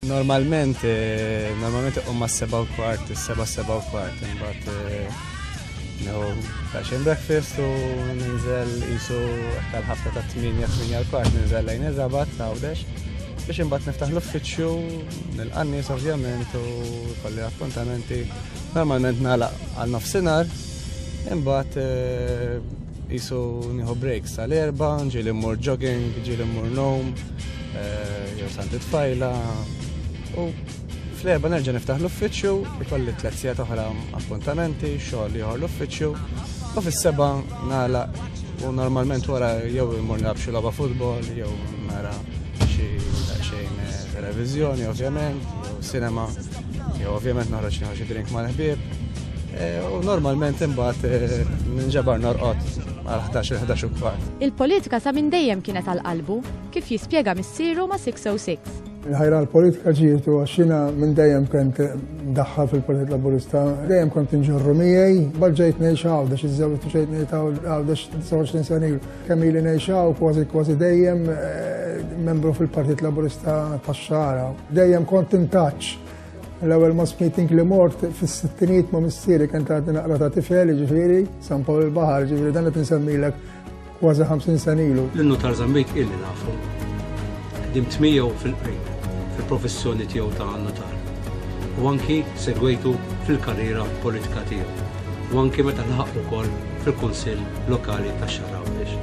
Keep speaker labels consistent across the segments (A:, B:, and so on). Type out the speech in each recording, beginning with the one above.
A: Normalment, eh, normalment iqum ma' seba' u kwart, seba' seba' u kwart, imbagħad eh, neħu fashion breakfast u ninżel jisu għal ħafna ta' 8-8 u kwart ninżel lejn ir-rabat għawdex biex imbagħad niftaħ l-uffiċċju nil-qannis ovvjament u kolli appuntamenti normalment nagħlaq għal nofsinhar imbagħad eh, Isu nieħu break sal-erba, ġieli mmur jogging, ġieli mmur nom, eh, jew santi tfajla. U fl-erba nerġa' niftaħ l-uffiċċju, ikolli tliet sigħat oħra appuntamenti, xogħol ieħor l-uffiċċju, u fis-seba' nagħlaq u normalment wara jew immur nilgħab xi logħba futbol, jew nara xi xejn eh, televiżjoni ovvjament, jew sinema. Jew ovvjament noħroġ nieħu xi drink mal-ħbieb. Eh, u normalment imbagħad eh, ninġabar norqod għal 11-11 u kwart. Il-politika sa minn dejjem kienet għal qalbu kif jispjega missieru ma' 606. Il-ħajra l-politika ġietu għaxina minn dejjem kent daħħa fil-Partit Laburista, dejjem kont inġorru miegħi, bħal ġejt ngħix għawdex, iż-żewġ ġejt ngħid għawdex 29 sena ilu. Kemm ili ngħixaw kważi kważi dejjem membru fil-Partit Laburista tax-Xara. Dejjem kont intaċ l-ewwel mass meeting li mort fis-sittinijiet ma' missieri kien tgħaddi naqra ta' tifel, ġifieri, San Pawl il-Baħar, ġifieri dan qed insemmilek kważi 50 senilu. L-innu tal-Zambik illi nafu. Ħdimt miegħu fil-qrib fil-professjoni tiegħu ta' Nutar u anki segwejtu fil-karriera politika tiegħu u anki meta laħaq ukoll fil-Kunsill Lokali tax-Xahar Għawdex.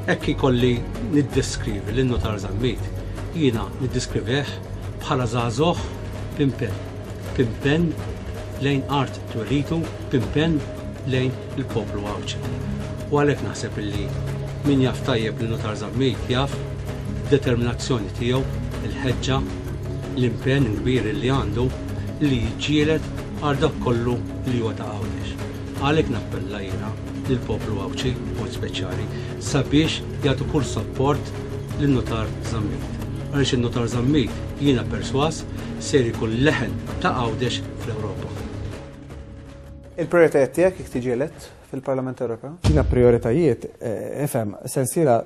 A: Hekk ikolli niddeskrivi lil Nutar Zammit, jiena niddeskrivih bħala żagħżugħ b'impenn, b'impenn lejn art twelitu, b'impenn lejn il-poplu Għawdxi. U għalhekk naħseb illi min jaf tajjeb lilu Tarzan Mejt jaf id-determinazzjoni tiegħu, il-ħeġġa, l-impenn kbir illi għandu li jiġġieled għal dak kollu li huwa ta' Għawdex. Għalhekk nappella jiena lill-poplu Għawdxi b'mod speċjali sabiex jagħtu kull sapport lin-Nutar Żammit. Għaliex in-Nutar Żammit jiena persważ ser ikun leħen ta' Għawdex fl-Ewropa. Il-prijoritajiet tiegħek jekk tiġi elett fil-Parlament Ewropew? Jiena prijoritajiet, ifhem, sensiela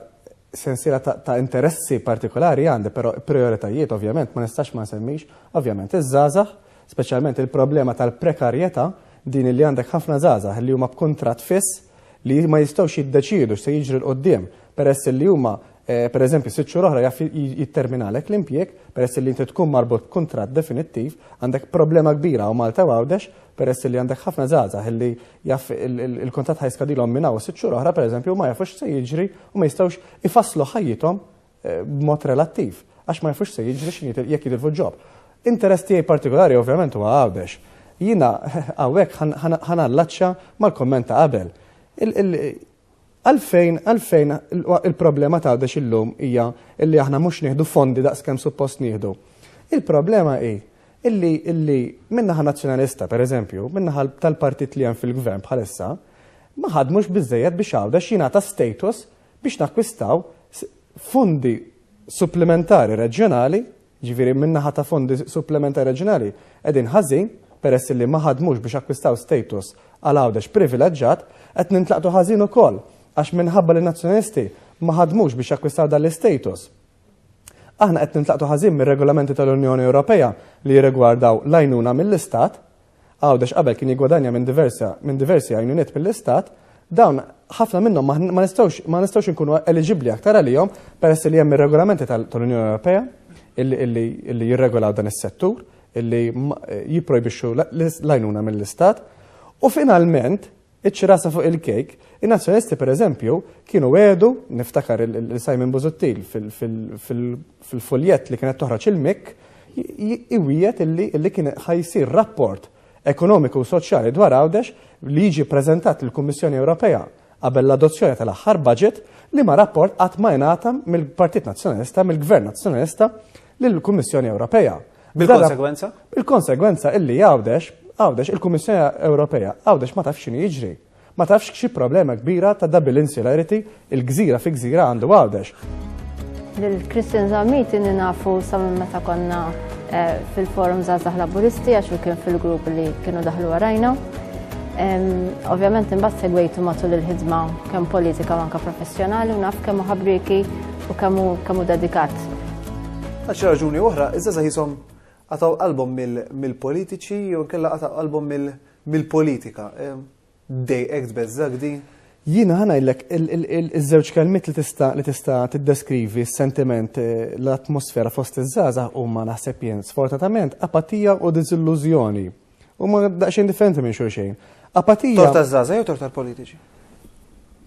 A: sensiela ta' interessi partikolari għandi, però prijoritajiet ovvjament ma nistax ma nsemmix, ovvjament iż-żgħażagħ, speċjalment il-problema tal-prekarjetà, din li għandek ħafna żgħażagħ li huma b'kuntratt fiss li ma jistgħux jiddeċiedu x'se jiġri 'l quddiem peress li huma per eżempju, sitt xhur oħra jaf jitterminalek l-impjieg peress li inti tkun marbut b'kuntratt definittiv, għandek problema kbira hawn Malta u Għawdex peress li għandek ħafna żgħażagħ illi jaf il-kuntratt ħa jiskadilhom minn hawn sitt xhur oħra per eżempju u ma jafux x'se jiġri u ma jistgħux ifasslu ħajjithom eh, b'mod relattiv għax ma jafux se jiġri x'in jekk jitilfu ġob. Interess tiegħi partikolari ovvjament huwa Għawdex. Jiena hawnhekk ħanallaċċa mal-komment ta' qabel Għalfejn, għalfejn il-problema ta' Għawdex illum hija illi aħna mhux nieħdu fondi daqs kemm suppost nieħdu? Il-problema hi illi illi min-naħa Nazzjonalista, pereżempju, min-naħa tal-partit li hemm fil-Gvern bħalissa, ma ħadmux biżżejjed biex Għawdex jingħata status biex nakkwistaw fondi supplimentari reġjonali Jiġifieri min-naħa ta' fondi supplementari reġjonali qegħdin ħażin peress li ma ħadmux biex akkwistaw status għal Għawdex privileġġat, qed nintlaqtu ħażin ukoll għax minħabba li n-Nazzjonalisti ma ħadmux biex jakkwistaw dan l-istatus aħna qed nintlaqtu ħażin mir-regolamenti tal-Unjoni Ewropea li jirrigwardaw l-għajnuna mill-Istat, Għawdex qabel kien jiggwadanja minn diversa minn diversi għajnuniet mill-Istat, dawn ħafna minnhom ma ma nistgħux ma nistgħux inkunu eliġibbli aktar għalihom peress li hemm ir-regolamenti tal tal-Unjoni Ewropea illi illi illi jirregolaw dan is-settur illi jipprojbixxu l-għajnuna mill-Istat u finalment Iċ-ċirasa fuq il-kejk, in-Nazzjonalisti pereżempju kienu wegħdu, niftakar lil Simon Busuttil fil-fuljett li kienet toħroġ il-MIK, iwiegħed illi kien ħa jsir rapport ekonomiku u soċjali dwar Għawdex li jiġi ppreżentat lill-Kummissjoni Ewropea qabel l-adozzjoni tal-aħħar budget, liema rapport qatt ma ingħata mill-Partit Nazzjonalista, mill-Gvern Nazzjonalista, lill-Kummissjoni Ewropea. Bil-konsegwenza? Bil-konsegwenza illi Għawdex, Għawdex, il-Kummissjoni Ewropea, Għawdex ma tafx x'inhu jiġri. Ma tafx xi problema kbira ta' double insularity il-gżira fi gżira għandu Għawdex. Lil Christian Zammit inni nafu sa minn meta konna eh, fil-forum Zazax Laburisti għax kien fil-grupp li kienu daħlu għarajna. Ovvjament imbagħad segwejtu matul il-ħidma kemm politika u anke professjonali u naf kemm ħabrieki U kemm hu dedikat. Għal xi raġuni oħra, iż-żgħażagħ jisom qatgħu qalbhom mill-politiċi jew inkella qatgħu qalbhom mill-politika. Dejqek tbeżżak din? Jiena ħa ngħidlek iż-żewġ kelmiet li tista' li tista' tiddeskrivi s-sentiment eh, l-atmosfera fost iż-żgħażagħ huma naħseb jien sfortunatament apatija u diżillużjoni. Huma daqsxejn differenti minn xulxejn. Apatija. Tort taż-żgħażagħ jew tort tal-politiċi?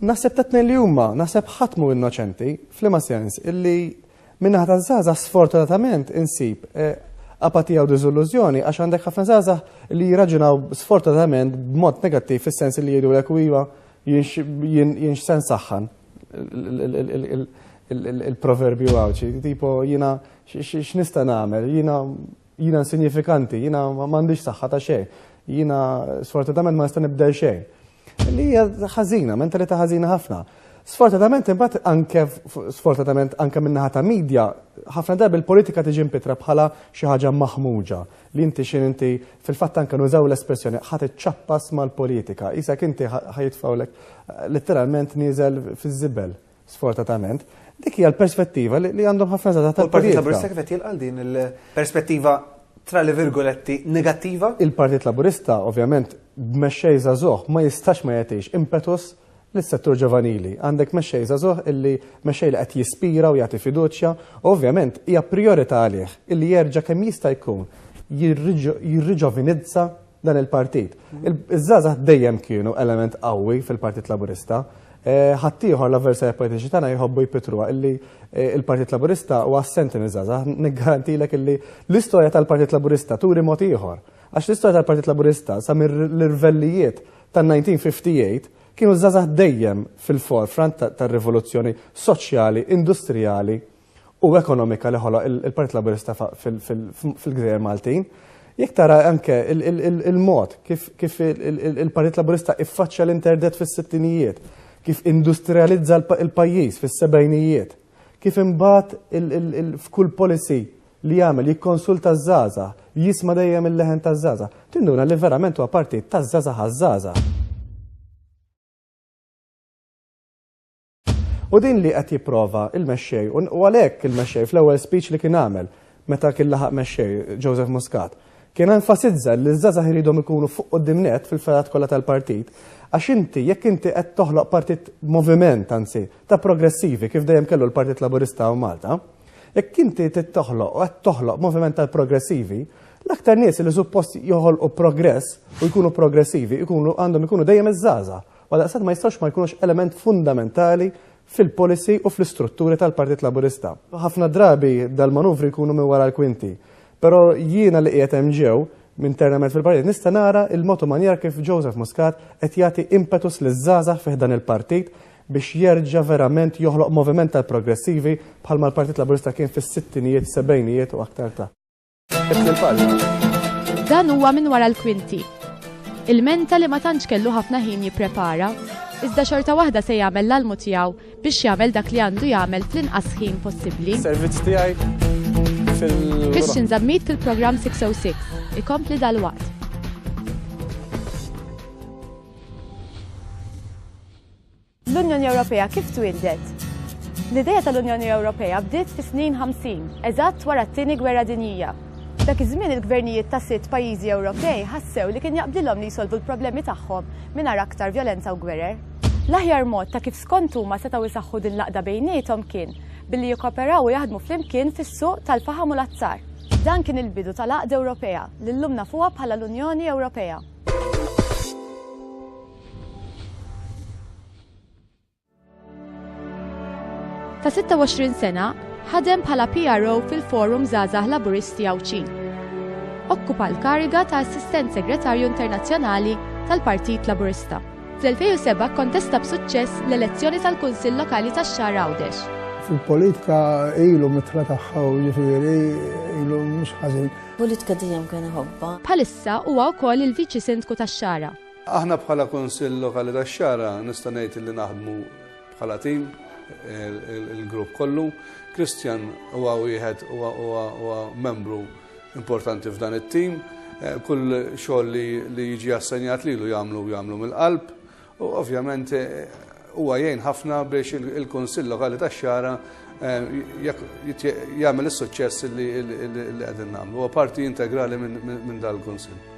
A: Naħseb ta' tnejn li huma, naħseb ħadd mhu innoċenti, f'liema sens, illi minnaħa taż-żgħażagħ sfortunatament insib eh, apatija u diżillużjoni għax għandek ħafna żgħażagħ li jirraġunaw sfortunatament b'mod negattiv fis-sens li jgħidu lek iva jien sen saħħan il-proverbju għawċi, tipo jina x'nista' nagħmel, jina Jiena insinjifikanti, jiena m'għandix saħħa ta' xejn, jiena sfortunatament ma nista' nibdel xejn. Li hija ħażina, mentalità ħażina ħafna. Sfortunatament imbagħad anke sfortunatament anke min-naħa ta' media, ħafna darbi l-politika tiġi mpitra bħala xi ħaġa maħmuġa li inti xi inti fil-fatt anke nużaw l-espressjoni ħadd iċċappas mal-politika, qisek inti ħajitfgħulek eh, letteralment nieżel fiż-żibel. Sfortatament, dik hija l-perspettiva li għandhom ħafna żgħażagħ tal-politika. Il-Partit Laburista kif qed jilqal din il-perspettiva tra li virgoletti negattiva? Il-Partit Laburista ovvjament b'mexxej żagħżugħ ma jistax ma jagħtix impetus lis-settur ġovanili. Għandek mexxej żagħżugħ illi mexxej li qed jispira u jagħti fiduċja, ovvjament hija priorità għalih illi jerġa' kemm jista' jkun jirriġovinizza dan il-partit. Iż-żgħażagħ dejjem kienu element qawwi fil-Partit Laburista. Eh, ħaddieħor l-avversarja politiċi tagħna jħobbu jpitruha illi eh, il-Partit Laburista huwa assenti miż-żgħażagħ. Niggarantilek illi l-istorja tal-Partit Laburista turi mod ieħor. Għax l-istorja tal-Partit Laburista sa mir-rvellijiet tan-1958 kienu żgħażagħ dejjem fil-forefront tar-rivoluzzjoni soċjali, industrijali u ekonomika li ħoloq il-Partit Laburista fil-Gżejjer Maltin, jekk tara anke il-mod kif il-Partit Laburista iffaċċja l-interdet fis-sittinijiet, kif industrializza l-pajjiż fis-sebgħinijiet, kif imbagħad f'kull policy li jagħmel jikkonsulta ż-żgħażagħ, jisma' dejjem il-leħen taż-żgħażagħ, tinduna li verament huwa partit taż-żgħażagħ għaż-żgħażagħ. U din li qed jipprova il-mexxej, u għalhekk il-mexxej fl-ewwel speech li kien għamel meta kien laħaq mexxej Joseph Muscat, kien enfasizza li ż-żgħażagħ iridhom ikunu fuq quddiem net fil-fergħat kollha tal-partit, għax inti jekk inti qed toħloq partit moviment anzi ta' progressivi kif dejjem kellu l-Partit Laburista hawn Malta, jekk inti trid toħloq u qed toħloq moviment tal-progressivi, l-aktar nies li suppost joħolqu progress u jkunu progressivi jkunu għandhom ikunu dejjem iż-żgħażagħ. Għaldaqstant ma jistgħux ma jkunux element fundamentali fil-policy u fl-istrutturi tal-Partit Laburista. Ħafna drabi dal-manuvri jkunu minn wara l-kwinti. Però jiena li qiegħed hemm ġew, internament fil-Partit, nista' nara l-mod u manjer kif Joseph Muscat qed jagħti impetus liż-żgħażagħ fi ħdan il-Partit biex jerġa' verament joħloq moviment tal-progressivi bħalma l-Partit Laburista kien fis-sittinijiet, sebgħinijiet u aktar ta'. Dan huwa minn wara l-kwinti. Il-menta li ma tantx kellu ħafna ħin jipprepara, iżda xorta waħda se jagħmel l-almu tiegħu biex jagħmel dak li għandu jagħmel fl-inqas ħin possibbli. Servizz tiegħi fil Christian Zammit fil-programm 606 ikompli dal-waqt. L-Unjoni Ewropea kif twieldet? L-idea tal-Unjoni Ewropea bdiet fis-snin 50, eżatt wara t-Tieni Gwerra Dinjija. Dak iż-żmien il-gvernijiet ta' sitt pajjiżi Ewropej ħassew li kien jaqbdilhom li jsolvu l-problemi tagħhom mingħajr aktar vjolenza u gwerer. L-aħjar mod ta' kif skont huma setgħu jsaħħu din l-għaqda bejniethom kien billi jikkooperaw u jaħdmu flimkien fis-suq tal-faħam u l-azzar. Dan kien il-bidu tal-għaqda Ewropea li llum nafuha bħala l-Unjoni Ewropea. Ta' 26 sena, ħadem bħala PRO fil-Forum Zazah Laburisti Għawċin. Okkupa l-kariga ta' Assistent Segretarju Internazzjonali tal-Partit Laburista. Fl-2007 kontesta b'suċċess l-elezzjoni tal-Kunsill Lokali tax-Xahar Għawdex. Fil-politika ilu mitra tagħha u ġifieri ilu mhux ħażin. Politika dejjem kien ħobba. Bħalissa huwa wkoll il-Viċi Sindku tax-Xara. Aħna bħala Kunsill Lokali tax-Xagħra nista' ngħid li naħdmu bħala tim il-grupp kollu. Kristjan huwa wieħed huwa membru importanti f'dan it-tim. Eh, kull xogħol li jiġi assenjat lilu jagħmlu jagħmlu mill-qalb u ovvjament eh, huwa jgħin ħafna biex il-Kunsill Lokali tax-Xara eh, jagħmel is-suċċess li qegħdin nagħmlu. Huwa parti integrali minn dal-Kunsill.